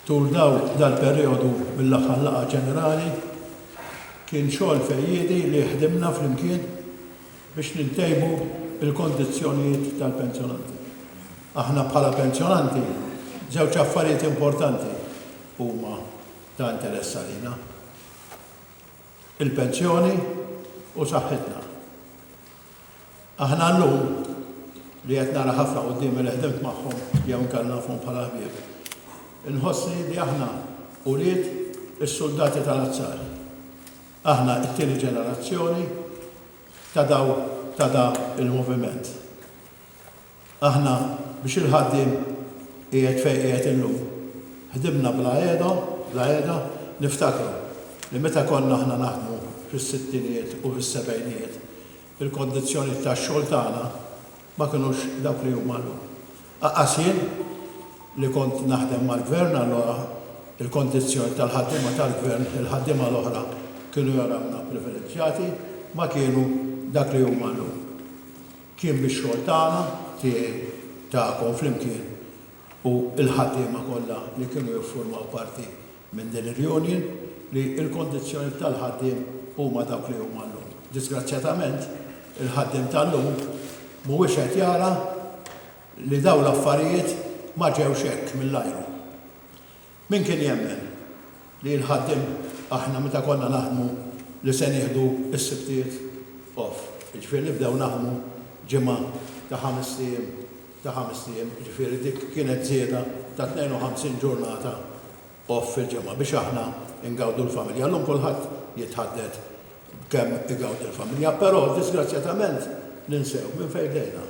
Tul dal-perijodu mill-aħħar laqgħa ġenerali kien xogħol fejjiedi li ħdimna flimkien biex nintejbu l-kondizzjonijiet tal-pensjonanti. Aħna bħala pensjonanti żewġ affarijiet importanti huma ta' interess għalina. il-pensjoni u saħħitna. Aħna llum li qed nara ħafna quddiemi li ħdimt magħhom jew inkella nafhom bħala ħbieb, inħossni li aħna ulied is-suldati tal-azzar. Aħna t-tieni ġenerazzjoni ta' daw ta' da il-moviment. Aħna, biex il-ħaddiem qiegħed fejn qiegħed illum, ħdimna bla qiegħda, bla qiegħda. Niftakru li meta konna aħna naħdmu fis-sittinijiet u fis-sebgħinijiet, il-kondizzjonijiet tax-xogħol tagħna ma kinux dawk li huma llum. Aqqas jien li kont naħdem mal-Gvern allura, il-kondizzjonijiet tal-ħaddiema tal-Gvern, il-ħaddiema l-oħra kienu jarawna privileġġjati, ma kienu dak li huma llum. Kien bix-xogħol tagħna, tiegħi, tagħkom flimkien u l-ħaddiema kollha li kienu jiffurmaw parti minn din il-union li l-kondizzjonijiet tal-ħaddiem huma dawk li huma llum. Diżgrazzjatament, il-ħaddiem tal-lum mhuwiex qed jara li dawn l-affarijiet ma ġewx hekk mill-ajru. Min kien jemmen li l-ħaddiem aħna meta konna naħdmu li se nieħdu s-Sibtiet off, jiġifieri nibdew naħdmu ġimgħa ta' ħamest ijiem ta' ħamest ijiem, jiġifieri dik kienet żieda ta' 52 ġurnata off fil-ġimgħa biex aħna ngawdu l-familja. Llum kulħadd jitħadded b'kemm igawdi l-familja, però diżgrazzjatament ninsew minn fejn bdejna.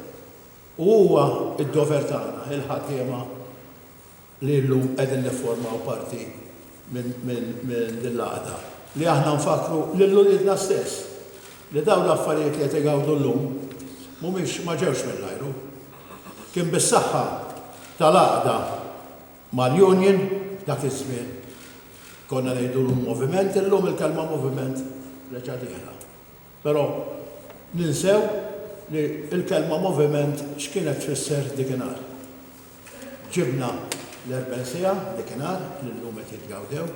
U huwa d-dover tagħna, il-ħaddiema, li llum qegħdin nifformaw parti minn din l-għaqda, li aħna nfakkru lil uliedna stess li dawn l-affarijiet li qed igawdu llum mhumiex ma ġewx mill-ajru. Kien bis-saħħa tal-għaqda mal-Union dak iż-żmien, konna ngħidulu l-moviment, illum il-kelma moviment reġgħet dieħla. Però ninsew li l-kelma moviment x'kienet tfisser dikinhar. Ġibna l-erben siegħa dikinhar li llum qed jitgawdew.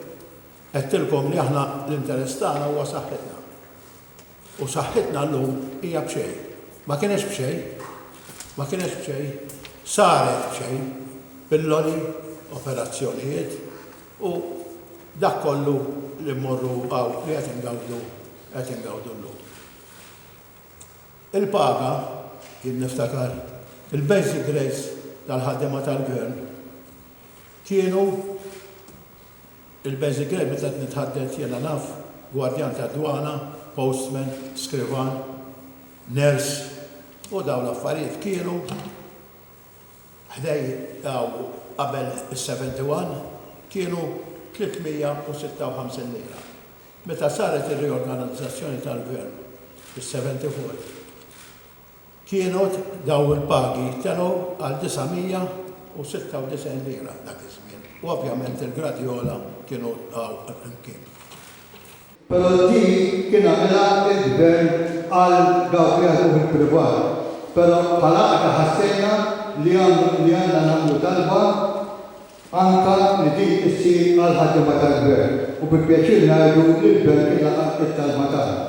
Għedtilkom li aħna l-interess tagħna huwa saħħitna. U saħħitna llum hija b'xejn. Ma kienetx b'xejn. Ma kienetx b'xejn. Saret b'xejn. Pilloli, operazzjonijiet. U dak kollu li mmorru hawn li qed ingawdu qed ingawdu llum. Il-paga, jien niftakar, il-basic rates tal-ħaddiema tal-Gvern kienu il-basic rate meta qed nitħadded jiena naf, gwardjan tad-dwana, postman, skrivan, nurse u dawn l-affarijiet kienu ħdej hawn qabel is-71 kienu 356 lira. Meta saret ir-riorganizzazzjoni tal-Gvern fis-74 kienut dawn il-pagi telgħu għal 996 lira dak iż-żmien u ovvjament il-gradi ogħla kienu hawn flimkien. Però din kien għamilha il-Gvern għal dawk li jaħdmu fil-privat. Però bħala Għaqda ħassejna li li għandna nagħmlu talba anke li din issir għall-ħaddiema tal-Gvern u bi pjaċir ngħidu li l-Gvern kien laqa' t-talba tagħna.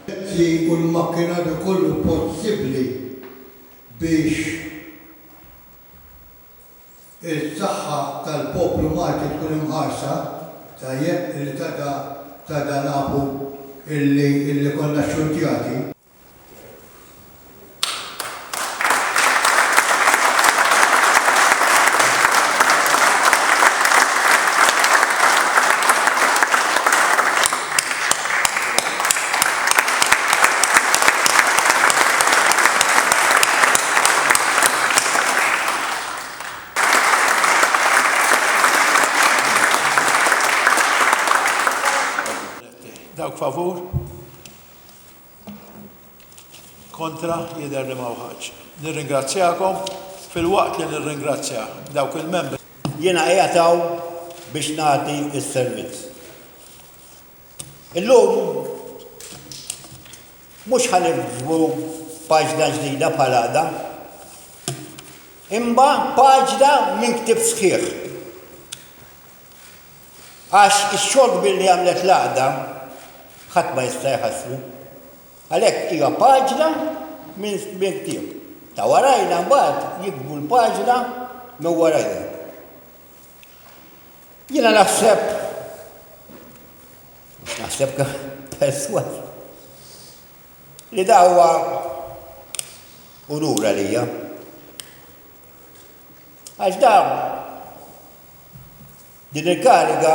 Mezzi u l-makkinarju kollu possibbli biex is-saħħa tal-poplu Malti tkun imħarsa, tajjeb illi tada tada nafu illi illi konna xxurtjati. Dawk favur? Kontra jidher li ma wħadx. Nirringrazzjakom fil-waqt li nirringrazzja dawk il-membri. Jiena qiegħed biex nagħti s-servizz. Illum mhux ħanibdu paġna ġdida bħal għada, imma paġna minn ktib sħiħ. Għax ix-xogħol kbir li għamlet l-għada ħadd ma jista' jħassru. Għalhekk hija paġna minn ktib. Ta' warajna mbagħad jikbu l-paġna minn warajna. Jiena naħseb, mhux naħseb perswas, li da huwa unur għalija. Għax da din il-kariga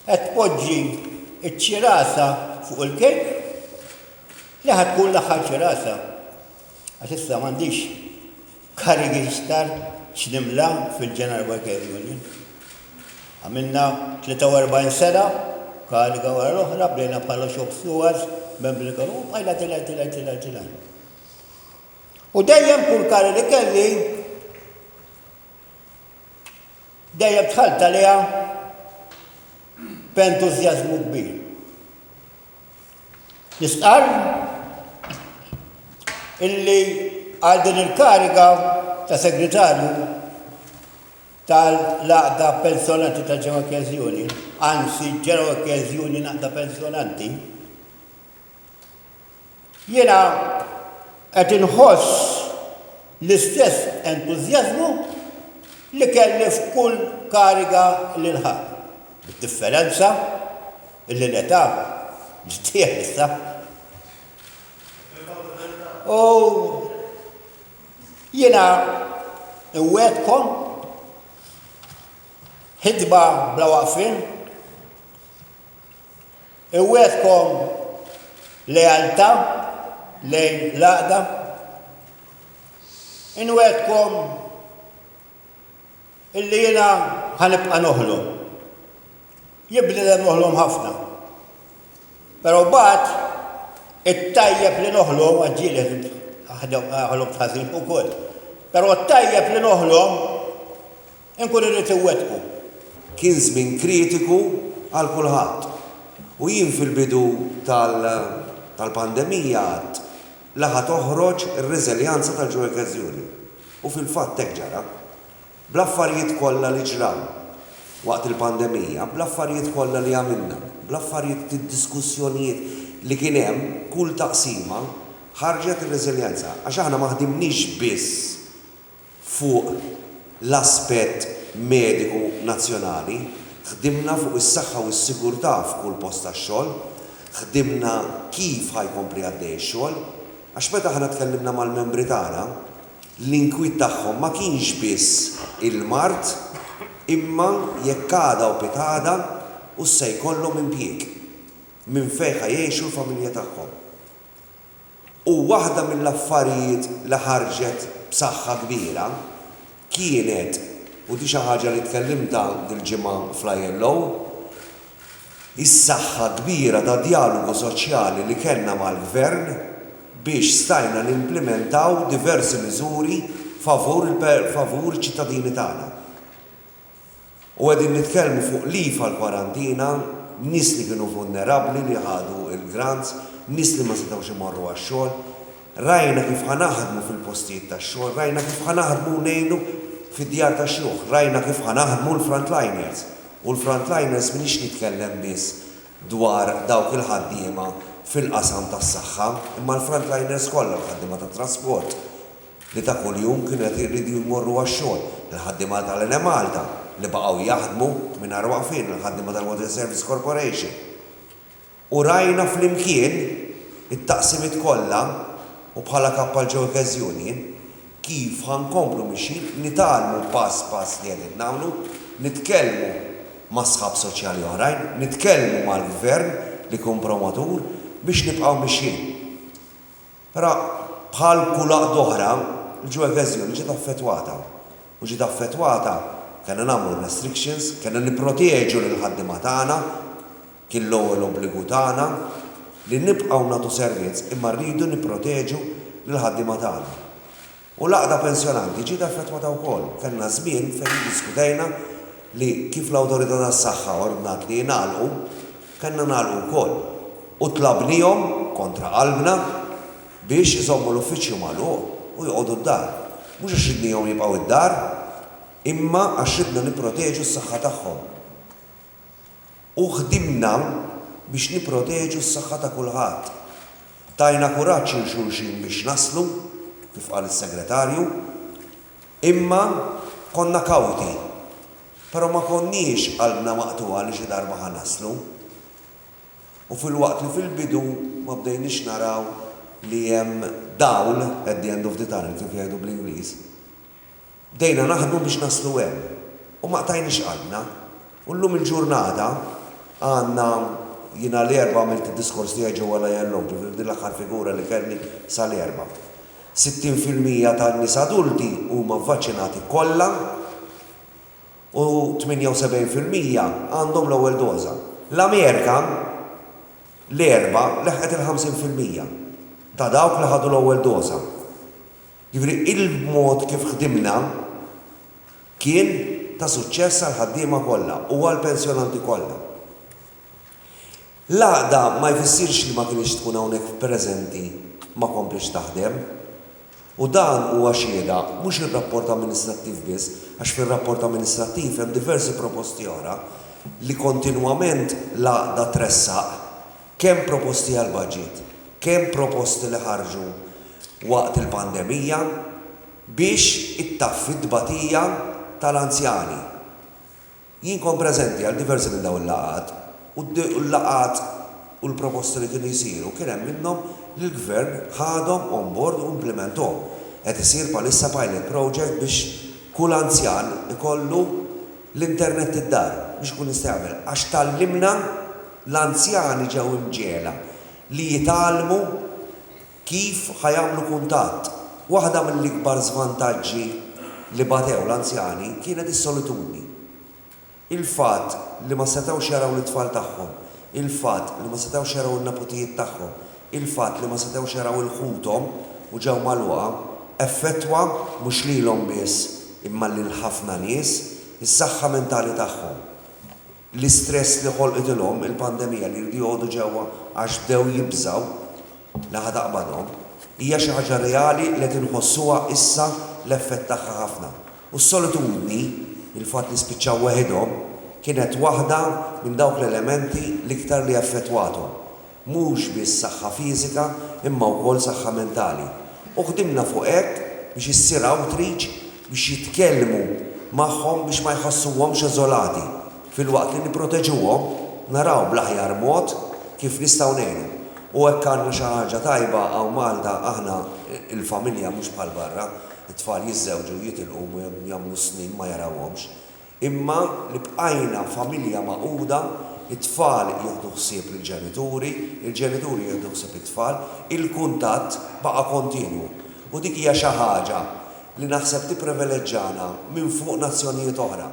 qed tpoġġi ċ-ċirasa fuq il-kejk li ħad tkun l-aħħar ċirasa. Għax issa m'għandix karigi isktar x'nimla fil-General Workers Union. Għamilna 43 sena, kariga wara l-oħra, bdejna bħala shop stewards, membri konu, bħajna tilaj, tilaj, tilaj, tilaj. U dejjem kull kari li kelli, dejjem tħalta liha b'entużjażmu kbir. Jistqarr illi għal din il-kariga ta' segretarju tal-Għaqda Pensjonanti ta' Ġewwa Kkeżjuni, anzi Ġewwa Kkeżjuni Naqda Pensjonanti, Jiena qed inħoss l-istess entużjażmu li kelli f'kull kariga li lħaqt, bid-differenza li l-età ġdieha issa. U jiena nwegħedkom ħidma bla waqfien. Iwegħdkom lealtà lejn l-għaqda? Inwegħdkom illi jiena ħa nibqa' noħlom. Jibnidem noħlom ħafna. Però mbagħad it-tajjeb li noħlom għaġġieled ħalom ħażin ukoll. Però t-tajjeb li noħlom Inkun irrid iwettqu. Kien żmien kritiku għal kulħadd u jien fil-bidu tal-pandemija għidt li ħa toħroġ ir-reżiljanza tal-ġuekezzjoni u fil-fatt hekk ġara. Bl-affarijiet kollha li ġraw waqt il-pandemija, bl-affarijiet kollha li għamilna, bl-affarijiet id-diskussjonijiet li kien hemm, kull taqsima ħarġet ir-reżiljenza għax aħna ma ħdimniex biss fuq l-aspett mediku nazzjonali, ħdimna fuq is-saħħa u s-sigurtà f'kull post tax-xogħol, ħdimna kif ħa jkompli għaddej ix-xogħol, għax meta aħna tkellimna mal-membri tagħna, l-inkwiet tagħhom ma kienx biss il-mard imma jekk għada u pitgħada hux se jkollhom impjieg, minn fejn ħa jgħixu l-familja tagħhom. U waħda mill-affarijiet li ħarġet b'saħħa kbira kienet, u di xi ħaġa li tkellimtha dil-ġimgħa fl-ILO, is-saħħa kbira ta' djalogu soċjali li kellna mal-Gvern biex stajna nimplimentaw diversi miżuri favur iċ-ċittadini tagħna. U qegħdin nitkellmu fuq leave għall-kwarantina, nies li kienu vulnerabbli li ħadu l-grants, nies li ma setgħux imorru għax-xogħol. Rajna kif ħa naħdmu fil-postijiet tax-xogħol, rajna kif ħa naħdmu ngħinu fid-djar tax-xjuħ, rajna kif ħa naħdmu l-frontliners. U l-frontliners m'iniex nitkellem biss dwar dawk il-ħaddiema fil-qasam tas-saħħa, imma l-frontliners kollha, l-ħaddiema tat-trasport, li ta' kuljum kienu qed irridu jmorru għax-xogħol, il-ħaddiema tal-Enemalta li baqgħu jaħdmu mingħajr waqfien, il-ħaddiema tal-Water Service Corporation. U rajna flimkien it-taqsimiet kollha u bħala Kap għal Joe Guest Union kif ħa nkomplu mixjin, nitgħallmu pass pass li qegħdin nagħmlu, nitkellmu ma' sħab soċjali oħrajn, nitkellmu mal-Gvern li jkun promotur biex nibqgħu mixjin. Però, bħal kull għaqda oħra, il-Joe Evasion ġiet affettwata. U ġiet affettwata, kellna nagħmlu r-restrictions, kellna nipproteġu lill-ħaddiema tagħna, kien l-ewwel obbligu tagħna, li nibqgħu nagħtu servizz imma rridu nipproteġu lill-ħaddiema tagħna. U l-Għaqda Pensjonanti ġiet affettwata wkoll. Kellna żmien fejn iddiskutejna li kif l-Awtorità tas-Saħħa ordnat li jingħalqu, kellna nagħlqu wkoll. U tlabnihom, kontra qalbna, biex iżommu l-uffiċċju magħluq u joqogħdu d-dar. Mhux għax ridnihom jibqgħu d-dar, imma għax ridna nipproteġu s-saħħa tagħhom. u ħdimna biex nipproteġu s-saħħa ta' kulħadd. Tajna kuraġġ lil xulxin biex naslu, kif qal is-Segretarju, imma konna kawti, però ma konniex qalbna maqtugħa li xi darba ħa naslu u filwaqt li fil-bidu ma bdejniex naraw li hemm dawl at the end of the tunnel kif jgħidu bl-Ingliż, Bdejna naħdmu biex naslu hemm u ma qtajniex qalbna u llum il-ġurnata għandna, jiena l-Erbgħa għamilt id-diskors tiegħi ġewwa l-ILO, ġifieri din l-aħħar figura li kellni sa l-Erbgħa, 60 fil-mija tan-nies adulti huma vvaċċinati kollha u 78 fil-mija għandhom l-ewwel doża. L-Amerika l-Erbgħa leħqet il-50 fil-mija ta' dawk li ħadu l-ewwel doża. Jiġifieri il-mod kif ħdimna kien ta' suċċess għall-ħaddiema kollha u għall-pensjonanti kollha. L-għaqda ma jfissirx li ma kinitx tkun hawnhekk preżenti ma komplitx taħdem. U dan huwa xhieda mhux ir-rapport amministrattiv biss għax fir-rapport amministrattiv hemm diversi proposti oħra li kontinwament l-għaqda tressaq Kemm proposti għall-budget, kemm proposti li ħarġu waqt il-pandemija biex ittaffi t-tbatija tal-anzjani. Jien kont preżenti għal diversi minn dawn il-laqgħat u l-laqgħat u l-proposti li kienu jsiru kien hemm minnhom li l-Gvern ħadhom on board u implimenthom. Qed isir bħalissa pilot project biex kull anzjan ikollu L-internet id-dar biex ikun jista' jagħmel għax tgħallimna l-anzjani ġew imġegħla li jitgħallmu kif ħa jagħmlu kuntatt. Waħda mill-ikbar żvantaġġi li batew l-anzjani kienet is-solitudni. Il-fatt li ma setgħux jaraw lit-tfal tagħhom, il-fatt li ma setgħux jaraw in-neputijiet tagħhom, Il-fatt li ma setgħux jaraw 'il ħuthom u ġew magħluqa effettwa mhux lilhom biss imma lil ħafna nies, is-saħħa mentali tagħhom. L-istress li ħolqitilhom il-pandemija li jridu joqogħdu ġewwa għax bdew jibżgħu li ħa taqbadhom hija xi ħaġa reali li qed inħossuha issa l-effett tagħha ħafna. U s-solitudni, il-fatt li spiċċaw weħidhom, kienet waħda minn dawk l-elementi l-iktar li effettwathom. Mhux biss saħħa fiżika imma wkoll saħħa mentali. U ħdimna fuq hekk biex issir outreach biex jitkellmu magħhom biex ma jħossuhomx eżolati. Filwaqt li nipproteġuhom, naraw bl-aħjar mod kif nistgħu ngħinu. U hekk għandna xi ħaġa tajba hawn Malta, aħna l-familja mhux bħal barra, it-tfal jiżżewġu, jitilqu u jagħmlu s-snin ma jarawhomx. Imma li bqajna familja magħquda, it-tfal jieħdu ħsieb lill-ġenituri, il-ġenituri jieħdu ħsieb it-tfal, il-kuntatt baqa' kontinwu. U dik hija xi ħaġa li naħseb tippriveleġġana minn fuq nazzjonijiet oħra.